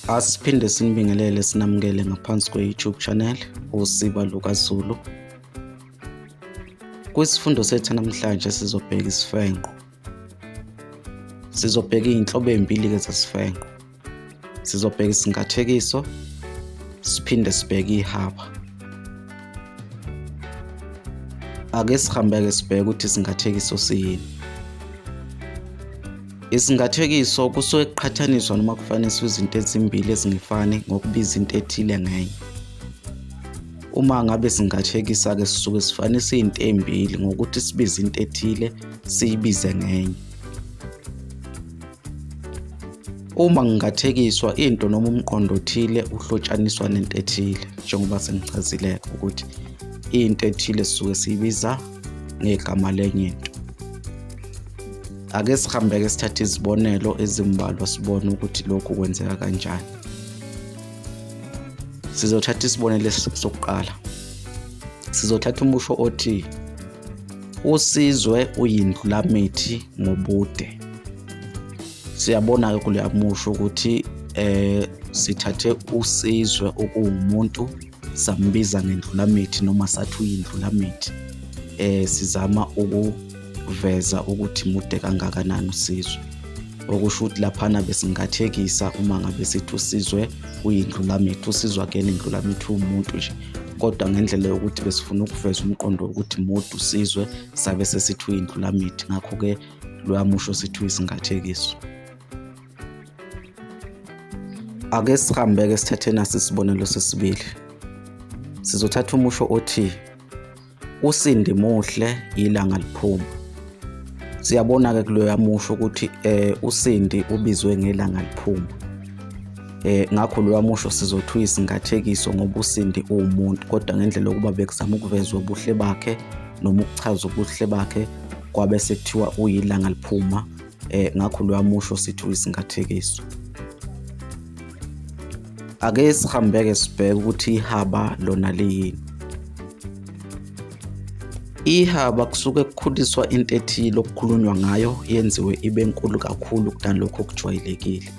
Asiphinde sinibingelele sinamukele ngaphansi kwe-YouTube channel usiba lukaZulu. Kwisifundo sethu namhlanje sizobheka isifenqo. Sizobheka izinhlobo ezimbili-ke zesifenqo. Sizobheka isingathekiso siphinde sibheke ihaba. Ake sihambe-ke sibheke ukuthi isingathekiso siyini. Isingathekiso kusuke kuqhathaniswa noma kufaniswa izinto ezimbili ezingefani ngokubiza into ethile ngenye. Uma ngabe singathekisa-ke sisuke sifanisa izinto ezimbili ngokuthi sibize into ethile siyibize ngenye. Uma ngingathekiswa into noma umqondo othile uhlotshaniswa nento ethile njengoba sengichazileke ukuthi into ethile sisuke siyibiza ngegama lenye into. Ake sihambeke sithathe izibonelo ezimbalwa sibone ukuthi lokhu kwenzeka kanjani. Sizothatha isibonelo sokuqala. Sizothatha umusho othi usizwe uyindlulamithi ngobude. Siyabona-ke kuleya musho ukuthi eh sithathe usizwe okuwumuntu sambiza ngendlulamithi noma sathi uyindlulamithi eh sizama ukuveza ukuthi mude kangakanani usizwe okusho ukuthi laphana besingathekisa uma ngabe sithi usizwe uyindlulamithi usizwe akuyena indlulamithi uwumuntu nje kodwa ngendlela yokuthi besifuna ukuveza umqondo wokuthi mude usizwe sabe sesithi uyindlulamithi ngakho-ke loya musho sithi uyisingathekiso ake sihambeke sithathe nasi isibonelo sesibili sizothatha umusho othi usindi muhle ilanga liphuma siyabona-ke kuloya musho ukuthi eh usindi ubizwe ngelanga liphuma eh ngakho loya musho sizothi uyisingathekiso ngoba usindi uwumuntu kodwa ngendlela yokuba bekuzama ukuveza ubuhle bakhe noma ukuchaza ubuhle bakhe kwabe sekuthiwa uyilanga liphuma eh ngakho loya musho sithi uyisingathekiso ake sihambeke sibheke ukuthi ihaba lona liyini ihaba kusuke kukhuliswa into ethile okukhulunywa ngayo yenziwe ibe nkulu kakhulu kunalokho okujwayelekile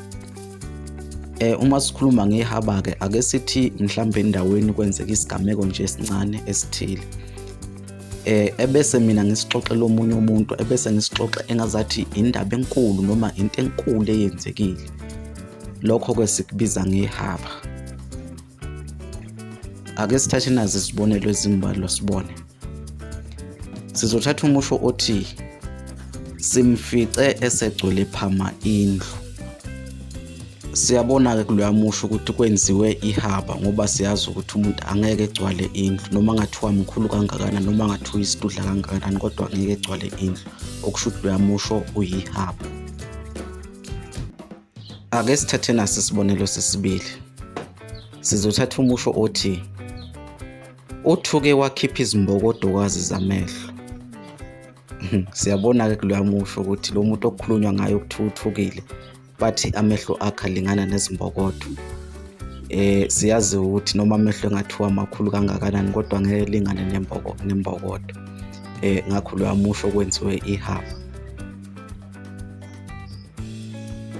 eh uma sikhuluma ngehaba ke ake sithi mhlawumbe endaweni kwenzeka isigameko nje esincane esithile eh ebese mina ngisixoxela omunye umuntu ebese ngisixoxe engazathi indaba enkulu noma into enkulu eyenzekile lokho ke sikubiza ngehaba ake sithathe nazi isibonelo ezimbalwa sibone sizothatha umusho othi simfice esegcwele phama indlu siyabona-ke kuloya musho ukuthi kwenziwe ihaba ngoba siyazi ukuthi umuntu angeke egcwale indlu noma ngathiwa mkhulu kangakanani noma ngathiwa isitudla kangakanani kodwa angeke egcwale indlu okusho ukuthi loya musho uyihaba ake sithathe naso isibonelo sesibili sizothatha umusho othi uthuke wakhipha izimbokodokazi zamehlo siyabona-ke kuloya musho ukuthi lo muntu okukhulunywa ngayo okuthiwa uthukile bathi amehlo akhe alingana nezimbokodo eh siyazi ukuthi noma amehlo engathiwa amakhulu kangakanani kodwa ngeke lingane nemboko nembokodo eh ngakho lo amusho kwenziwe ihaba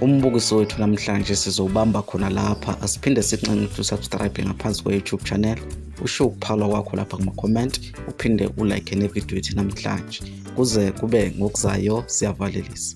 umbukiso wethu namhlanje sizowubamba khona lapha asiphinde sinxenxe ukuthi usubscribe ngaphansi kwe-youtube channel usho ukuphalwa kwakho lapha kuma-comment uphinde ulike nevidiyo yethu namhlanje kuze kube ngokuzayo siyavalelisa